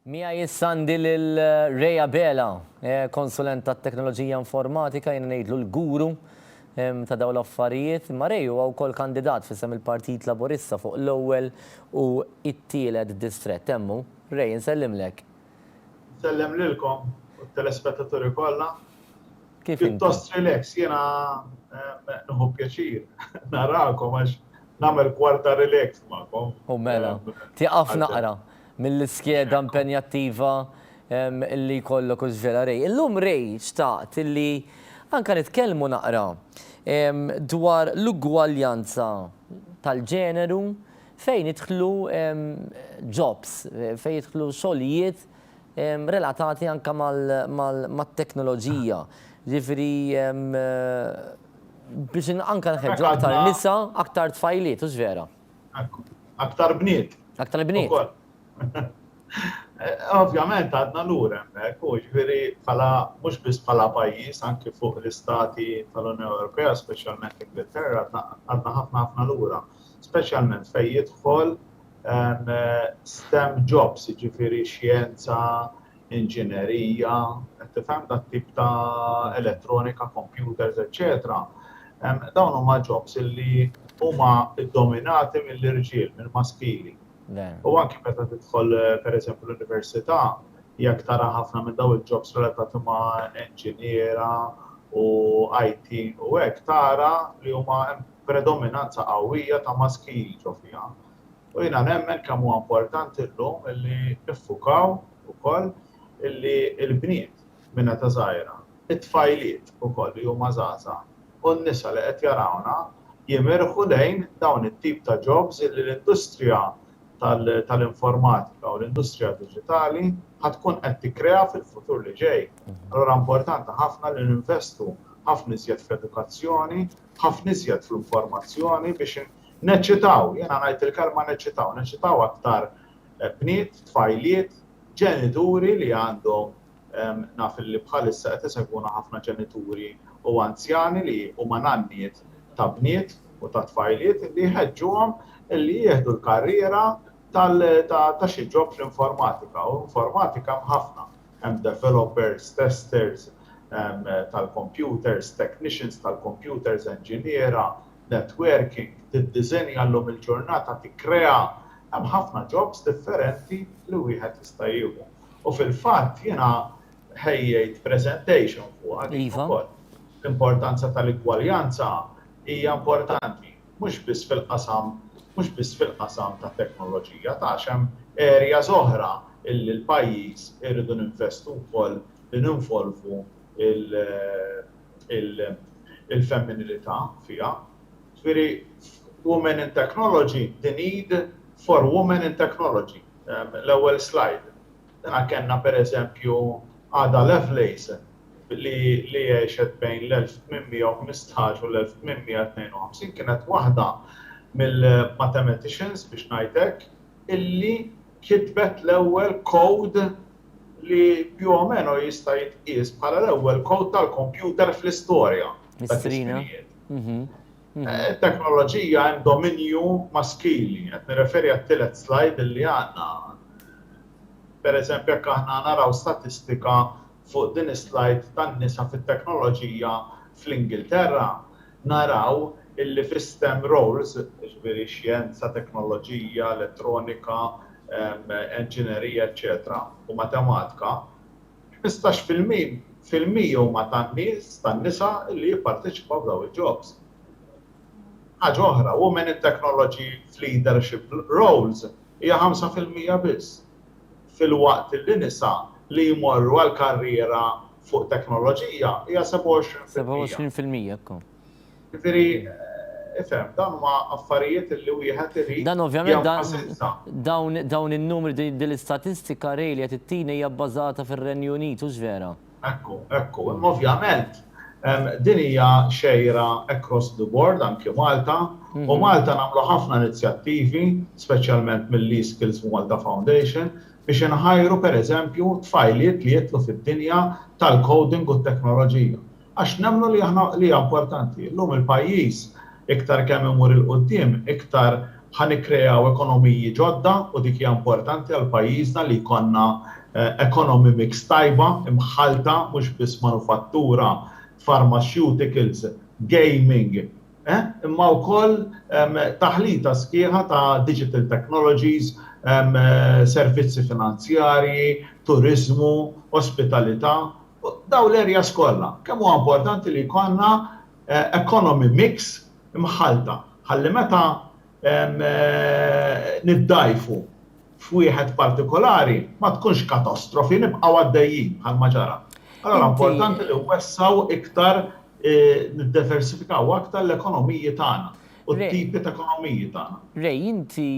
Miegħi issa għandi lil Ray Abela, eh, konsulent tat-teknoloġija informatika, jiena ngħidlu l-guru ta' dawn l-affarijiet, imma Ray huwa wkoll kandidat f'isem il-Partit Laburista fuq l-ewwel u t-tielet distrett. Hemm hu. Ray, insellimlek. Insellem lilkom u t-telespettaturi kollha. Kif inti? Pjuttost relax. Jiena nieħu pjaċir narakom għax nagħmel kwart ta' relax magħkom. U mela. Tieqaf naqra. mill-iskeda impenjattiva li jkollok u żvela Ray. Illum Ray xtaqt li anke nitkellmu naqra dwar l-ugwaljanza tal-ġeneru fejn jidħlu jobs, fejn jidħlu xogħlijiet relatati anke mat-teknoloġija. Jiġifieri biex anke nħeġġu aktar nisa, aktar tfajliet, hux vera? Aktar bniet. Aktar bniet. Ovvjament għadna lura hemmhekk, u ġifieri bħala mhux biss bħala pajjiż anki fuq l-istati tal-Unjoni Ewropea, speċjalment l-Ingilterra, għadna ħafna ħafna lura, speċjalment fejn jidħol STEM jobs, jiġifieri xjenza, inġinerija, qed tifhem, dat-tip ta' elettronika, kompjuters, eċċetera, dawn huma jobs li huma ddominati mill-irġiel, mill-maskili. U anki meta tidħol, pereżempju, l-università, jekk tara ħafna minn dawn il-jobs relatati ma' inġiniera u IT u hekk, tara li huma hemm predominanza qawwija ta' maskili ġo fiha. U jiena nemmen kemm huwa importanti llum illi niffukaw ukoll illi l-bniet minn età żgħira, it-tfajliet ukoll li huma żgħażagħ u n-nisa li qed jarawna jimirħu lejn dawn it-tip ta' jobs illi l-industrija tal-informatika u l-industrija diġitali ħa tkun qed tikkrea fil-futur li ġej. Allura importanti ħafna li ninvestu ħafna iżjed fl-edukazzjoni, ħafna iżjed fl-informazzjoni biex Neċċitaw, jiena ngħid il-kelma neċċitaw, neċċitaw aktar bniet, tfajliet, ġenituri li għandhom naf li bħalissa qed isegwuna ħafna ġenituri u anzjani li huma nanniet ta' bniet u ta' tfajliet li jħeġġuhom li jieħdu l-karriera ta' xi ġob fl-informatika u informatika hemm ħafna. Hemm developers, testers tal-computers, technicians tal-computers, enġiniera, networking, tiddiżenja llum il-ġurnata, tikkrea, hemm ħafna jobs differenti li wieħed jista' jieħu. U fil-fatt jiena ħejjejt presentation fuqha din ukoll. L-importanza tal-igwaljanza hija importanti, mhux biss fil-qasam mhux biss fil-qasam tat-teknoloġija, ta' għax hemm areas oħra illi l-pajjiż irridu ninvestu wkoll li ninvolvu l- il-femminilità fiha. Ġifieri f'Women in Technology, the need for women in technology, l-ewwel slide. Dana kellna pereżempju Ada Lovelace li għexet bejn l-1815 u l-1852, kienet waħda mill-mathematicians, biex ngħid hekk, illi kitbet l-ewwel code li più o meno jista' jitqies bħala l-ewwel kowd tal-kompjuter fl-istorja ta' żminijiet. It-teknoloġija hemm dominju maskili, qed nirreferi għat-tielet slajd illi għandna. Pereżempju jekk aħna naraw statistika fuq din is-slajd tan-nisa fit-teknoloġija fl-Ingilterra, naraw illi fi stem roles, jiġifieri xjenza, teknoloġija, elettronika, enġinerija eċċetera u matematika, ħmistax fil-mija huma tan-nies, tan-nisa illi jipparteċipaw f'dawn il-jobs. Ħaġa oħra, women in technology f'leadership roles hija ħamsa fil-mija biss. filwaqt li nisa li jmorru għal karriera fuq teknoloġija hija 27 fil-mija. 27 fil-mija, ekku. Jiġifieri, ifhem, dawn huma affarijiet li wieħed irid jenfasizza. Dawn in-numri, din l-istatistika, Ray, li qed ittini hija bbażata fir-Renju Unit, hux vera? Ekku, ekku. Imma ovvjament din hija xejra across the board, anki Malta, u Malta nagħmlu ħafna inizjattivi, speċjalment mill-eSkills Malta Foundation, biex inħajru pereżempju tfajliet li jidħlu fid-dinja tal-coding u t-teknoloġija. Għax nemmnu li aħna li hija importanti. Illum il-pajjiż iktar kemm imur 'il quddiem, iktar Ħa nikkreaw ekonomiji ġodda u dik hija importanti għal pajjiżna li jkollna economy mix tajba, imħallta, mhux biss manufattura, pharmaceuticals, gaming, eh, imma wkoll taħlita sħiħa ta' digital technologies, servizzi finanzjarji, turiżmu, ospitalità, dawn l-areas kollha. Kemm huwa importanti li jkollna economy mix, mħallta ħalli meta niddgħajfu f'wieħed partikolari ma tkunx katastrofi, nibqgħu għaddejjin bħalma ġara. Allura importanti li nwessgħu iktar, niddiversifikaw aktar l-ekonomiji tagħna u t-tipi ta' ekonomiji tagħna. Ray, inti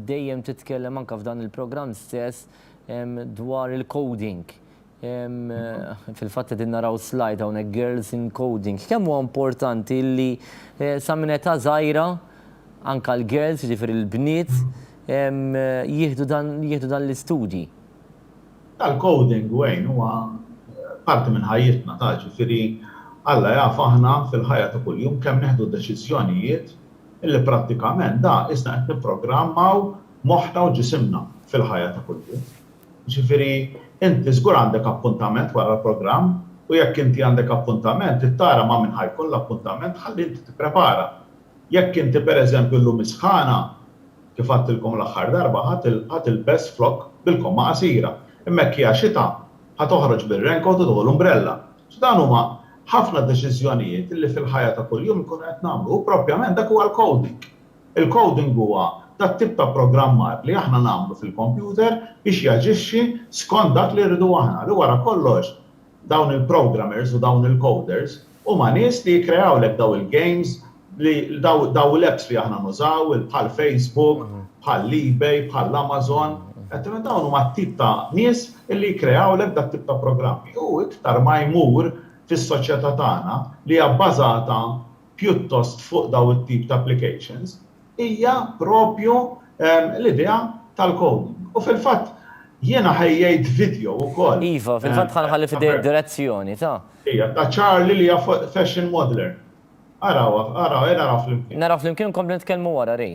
dejjem titkellem anke f'dan il-programm stess dwar il-coding. Fil-fatt qegħdin naraw slide hawnhekk Girls in Coding. Kemm huwa importanti li sa minn età żgħira anke l-girls, jiġifieri l-bniet, jieħdu dan jieħdu dan l-istudji. Tal-coding Wayne huwa parti minn ħajjitna taf jiġifieri Alla jaf aħna fil-ħajja ta' kuljum kemm nieħdu deċiżjonijiet illi prattikament da isna qed nipprogrammaw moħħna u ġisimna fil-ħajja ta' kuljum. Jiġifieri inti żgur għandek appuntament wara l-programm u jekk inti għandek appuntament trid tara ma' min ħa jkun l-appuntament ħalli inti tipprepara. Jekk inti pereżempju llum is-sħana, kif għadtilkom l-aħħar darba, ħa tilbes flokk bil-komma qasira, imma jekk hija xita ħa toħroġ bir-raincoat u tieħu l-umbrella. So dawn huma ħafna deċiżjonijiet li fil-ħajja ta' kuljum inkunu qed nagħmlu u propjament dak huwa l-coding. Il-coding huwa tat-tip ta' pprogrammar li aħna nagħmlu fil-kompjuter biex jaġixxi skont dak li rridu aħna, li wara kollox dawn il-programmers u dawn il-coders huma nies li jikkreawlek daw il-games li daw daw l-apps li aħna nużaw bħal Facebook, bħal eBay, bħal Amazon, għedtilhom dawn huma t-tip ta' nies li jikkreawlek dat-tip ta' programmi. U iktar ma jmur fis-soċjetà tagħna li hija bbażata pjuttost fuq dawn it-tip ta' applications hija proprju l-idea tal-coding. U fil-fatt jiena ħejjejt video wkoll. Iva, fil-fatt ħa nħalli f'idejk direzzjoni ta'. Hija ta' Charlie li hija fuq fashion modeler. Arawha, araw, ejja naraw flimkien. Naraw flimkien u nkomplu nitkellmu wara, Ray.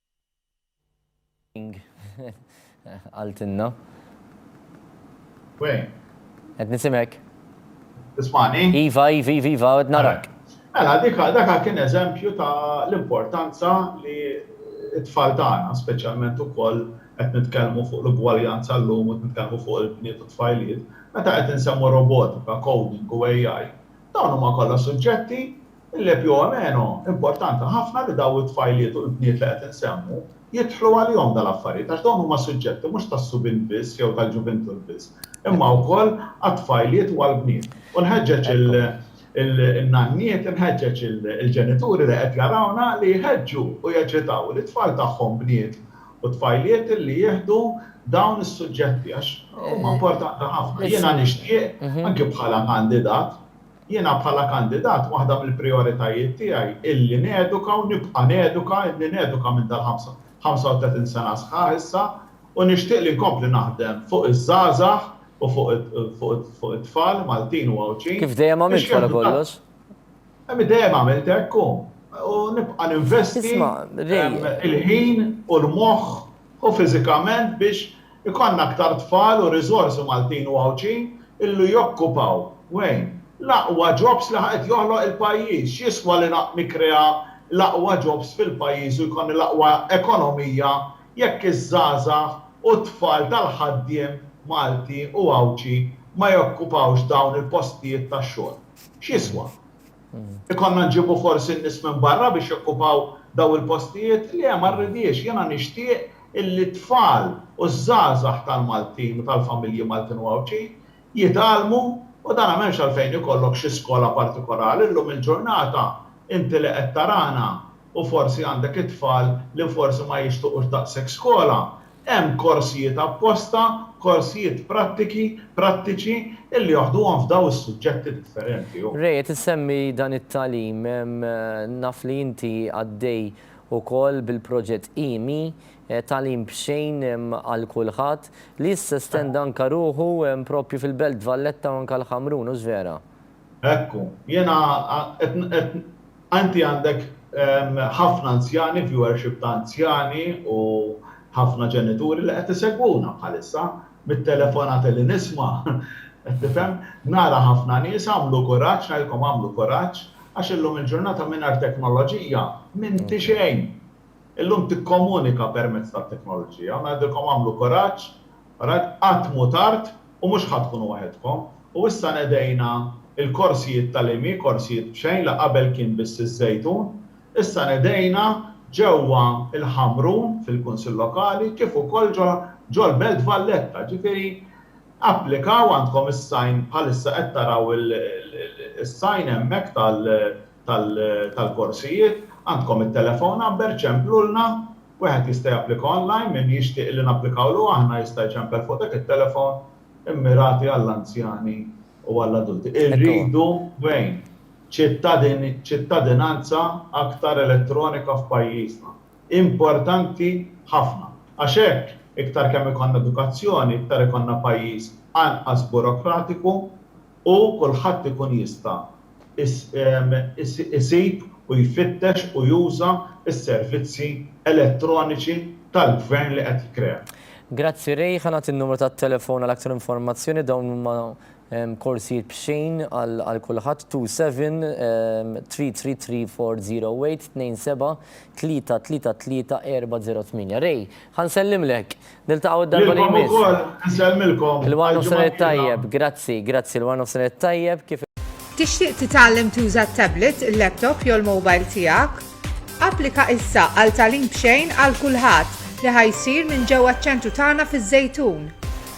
Qaltilna. Weh. Qed nisimek. Tismani? Iva, iva, iva, iva, qed narak. Mela, dak kien eżempju ta' l-importanza li t-tfal tagħna, speċjalment ukoll qed nitkellmu fuq l-ugwaljanza llum u qed nitkellmu fuq il-bniet u t-tfajliet, meta qed insemmu robotika, coding u AI, dawn huma kollha suġġetti Il-lepiomeno, importanti ħafna li dawn it-tfajliet u l-bniet li qed insemmu, jidħlu għalihom dan l-affarijiet għax dawn huma suġġetti mhux tas-subien biss jew tal-ġuvintur biss, imma wkoll għat-tfajliet u għall-bniet. U nħeġġeġ in-nanniet, inħeġġeġ il-ġenituri li qed jarawna li jħeġġu u jeċitaw lit-tfal tagħhom bniet u tfajliet li jieħdu dawn is-suġġetti għax huma importanti ħafna. Jiena nixtieq, anki bħala kandidat, Jiena bħala kandidat waħda mill-prijoritajiet tiegħi hi li neduka u nibqa' neduka, ilni neduka minn dal-35 sena sħaħ issa u nixtieq li nkompli naħdem fuq iż-żgħażagħ u fuq it-tfal Maltin u Għawdxin. Kif dejjem għamilt wara kollox. Dejjem għamilt hekk u nibqa' ninvesti il-ħin u l-moħħ u fiżikament biex ikollna aktar tfal u riżorsi Maltin u Għawdxin illi jokkupaw, Wayne, l-aqwa jobs li qed joħloq il-pajjiż. X'jiswa li nikkrea l-aqwa jobs fil-pajjiż u jkollni l-aqwa ekonomija jekk iż-żgħażagħ u t-tfal tal-ħaddiem Malti u Għawdxi ma jokkupawx dawn il-postijiet tax-xogħol? X'jiswa? Ikollna nġibu forsi n-nies minn barra biex jokkupaw daw il-postijiet? Le, ma rridhiex. Jiena nixtieq illi t-tfal u ż-żgħażagħ tal-Maltin u tal-familji Maltin u Għawdxin jitgħallmu u dana m'hemmx għalfejn ikollok xi skola partikolari. Llum il-ġurnata inti li qed tarana u forsi għandek it-tfal li forsi ma jixtuqux daqshekk skola, hemm korsijiet apposta, korsijiet prattiki, prattiċi, illi joħduhom f'daw is-suġġetti differenti. Ray, qed issemmi dan it-tagħlim, naf li inti għaddej ukoll bil-proġett IMI, Tagħlim B'Xejn għal Kulħadd, li issa estenda anke ruħu proprju fil-Belt Valletta u anke l-Ħamrun, hux vera? Ekku, jiena qed, qed, inti għandek ħafna anzjani, viewership ta' anzjani u ħafna ġenituri li qed isegwuna bħalissa, mit-telefonati li nisma', qed tifhem, nara ħafna nies, agħmlu kuraġġ, ngħidilkom agħmlu kuraġġ, għax illum il-ġurnata mingħajr teknoloġija m'inti xejn. Illum tikkomunika permezz tat-teknoloġija u ngħidilkom agħmlu kuraġġ Ragħajt, qatt mhu tard u mhux ħa tkunu waħedkom. U issa nedejna l-korsijiet tal-IMI, korsijiet b'xejn la qabel kien biss iż-Żejtun, issa nedejna ġewwa l-Ħamrun fil-Kunsill Lokali kif ukoll ġol-Belt Valletta. Ġifieri applikaw għandkom is-sign bħalissa qed taraw is-sign hemmhekk tal-korsijiet, għandkom it-telephone number ċemplulna Wieħed jista' japplika online, min jixtieq li napplikawlu aħna jista' jċempel fuq dak it-telefon immirati għall-anzjani u għall-adulti. Irridu, wejn? Ċittadinanza aktar elettronika f'pajjiżna. Importanti ħafna. Għax hekk, iktar kemm ikollna edukazzjoni, iktar ikollna pajjiż anqas burokratiku, u kulħadd ikun jista' jsib u jfittex u juża s-servizzi elettroniċi tal-Gvern li qed jikkrea. Grazzi Ray, ħa nagħti n-numru tat-telefon għal aktar informazzjoni, dawn huma korsijiet b'xejn għal kulħadd, 27333408, 27333408. Ray, ħa nsellimlek, Niltaqgħu d-darba li jmiss. Lilkom ukoll, insellmilkom. Il-War Nofsinhar it-Tajjeb. Grazzi, grazzi. Il-War Nofsinhar it-Tajjeb. Kif. Tixtieq titgħallem tuża t-tablet, il-laptop jew l-mobile tiegħek? Applika issa għal Tagħlim B'Xejn għal Kulħadd li ħa jsir minn ġewwa ċ-ċentru tagħna fiż-Żejtun.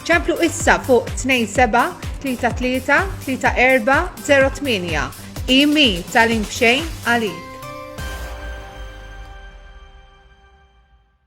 Ċemplu issa fuq 27 33 34 08. IMI Tagħlim B'Xejn għalik.